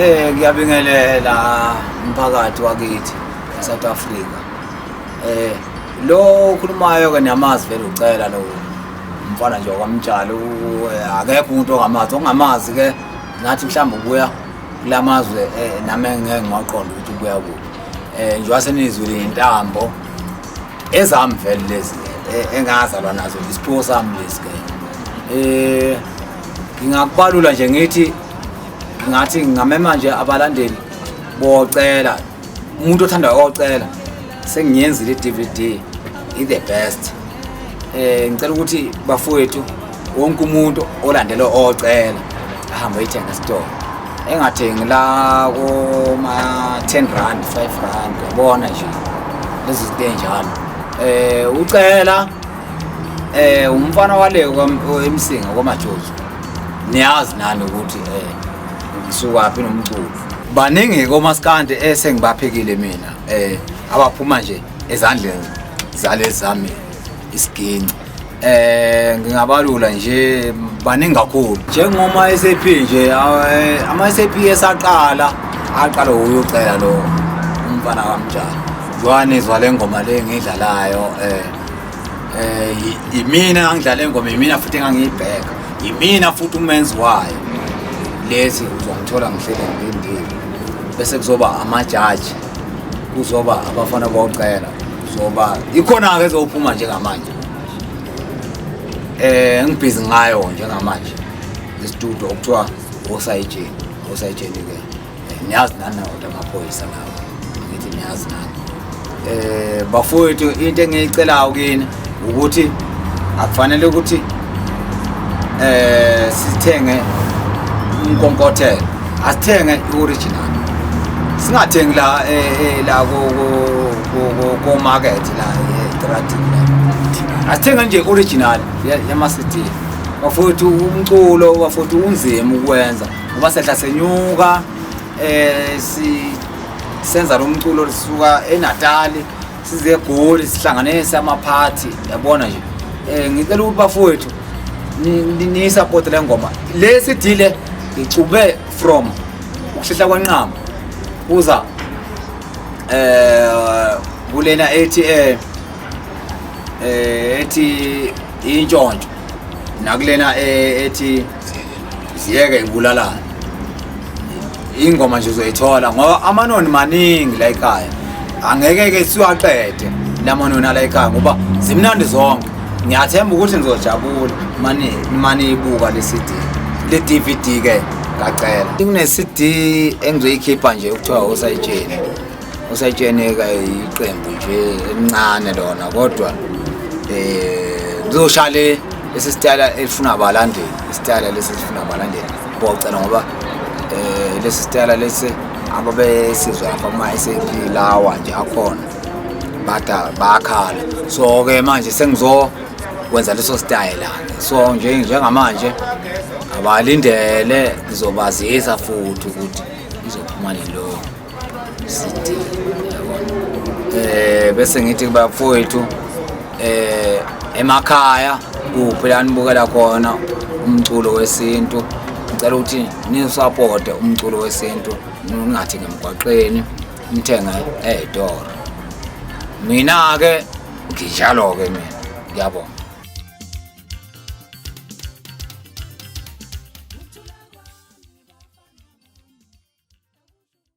Eh ngiyabingelela umphakathi wakithi eSouth Africa. Eh lo okhulumayo ke niyamazi vele ucela lo umfana nje wakwamtshalo eh, akekho umuntu ongamazi ongamazi ke ngathi mhlawumbe ubuya kulamazwe eh, nami ngeke ngiwaqonda ukuthi ubuya kuphi. Eh nje wasenizwile intambo ezami vele lezi eh, engazalwa nazo isiphiwo sami lesi ke. Eh ngingakubalula nje ngithi ngathi ngingamema nje abalandeli bocela umuntu othanda ocela sengiyenzile i-dvd i-the best um ngicela ukuthi bafowethu wonke umuntu olandele ocela ahambe ayithenga esitolo engathengi la koma-ten rand five rand yabona nje lezi zinto ey'njalo um ucela eh umfana wale emsinga kwamajozi niyazi nani ukuthi eh ngisukwaphi nomculo baningi komaskandi esengibaphekile mina eh abaphuma nje ezandleni zale zami isiginci eh ngingabalula nje baningi kakhulu njengoma SAP nje eh, ama SAP esaqala aqala uyocela lo umfana kamjani Zwane izwa le ngoma le ngidlalayo eh eh yimina ngangidlala ingoma yimina futhi engangiyibheka yimina futhi umenzi wayo lezi uzongithola ngihlele ngilindile bese kuzoba amajaji kuzoba abafana bocela kuzoba ikhona-ke ezophuma njengamanje eh ngibhizi ngayo njengamanje istudio okuthiwa osayijeni osayijeni-ke Niyazi nani kodwa amaphoyisa lawo. Ngithi niyazi nani. Eh bafowethu into engiyicelayo kini ukuthi akufanele ukuthi eh sithenge umkonkothelo. Asithenge i-original. Singathengi la eh, eh, la ko ko ko market la eTrading. Eh, Asithenge nje original yama-CD. Bafowethu umculo bafowethu unzima ukwenza. ngoba sehla senyuka eh si senza lo mculo lisuka eNatali size eGoli sihlanganise amaphathi yabona nje eh ngicela ukuthi bafowethu ni support le ngoma le sidile ngicube from ukuhlehla kwanqama uza eh kulena ethi eh, eh ethi intshontsho nakulena eh, ethi ziyeke ibulalane ingoma nje uzoyithola ngoba amanoni maningi la ekhaya angeke ke siwaqede lamanoni ala ekhaya ngoba zimnandi zonke ngiyathemba ukuthi nizojabula mani mani ibuka le CD le DVD ke ngacela kune CD engizoyikhipha nje ukuthiwa usayitsheni usetsheneka iqembu nje elincane lona kodwa um kuzoshaya le lesi sitayela elifuna abalandeli isitayela lesi elifuna abalandeli bocela ngoba um lesi sitayela lesi ababesizwa lapha kuma-sap lawa nje akhona bada bakhala so-ke manje sengizokwenza leso sitayela so njengamanje abalindele ngizobazisa futhi ukuthi izophuma lelo eh bese ngithi kubafowethu eh emakhaya kuphi la nibukela khona umculo wesintu ngicela ukuthi nisapote umculo wesintu ningathi ngemgwaqeni nithenge ey'toro mina-ke nginjalo-ke mina ngiyabonga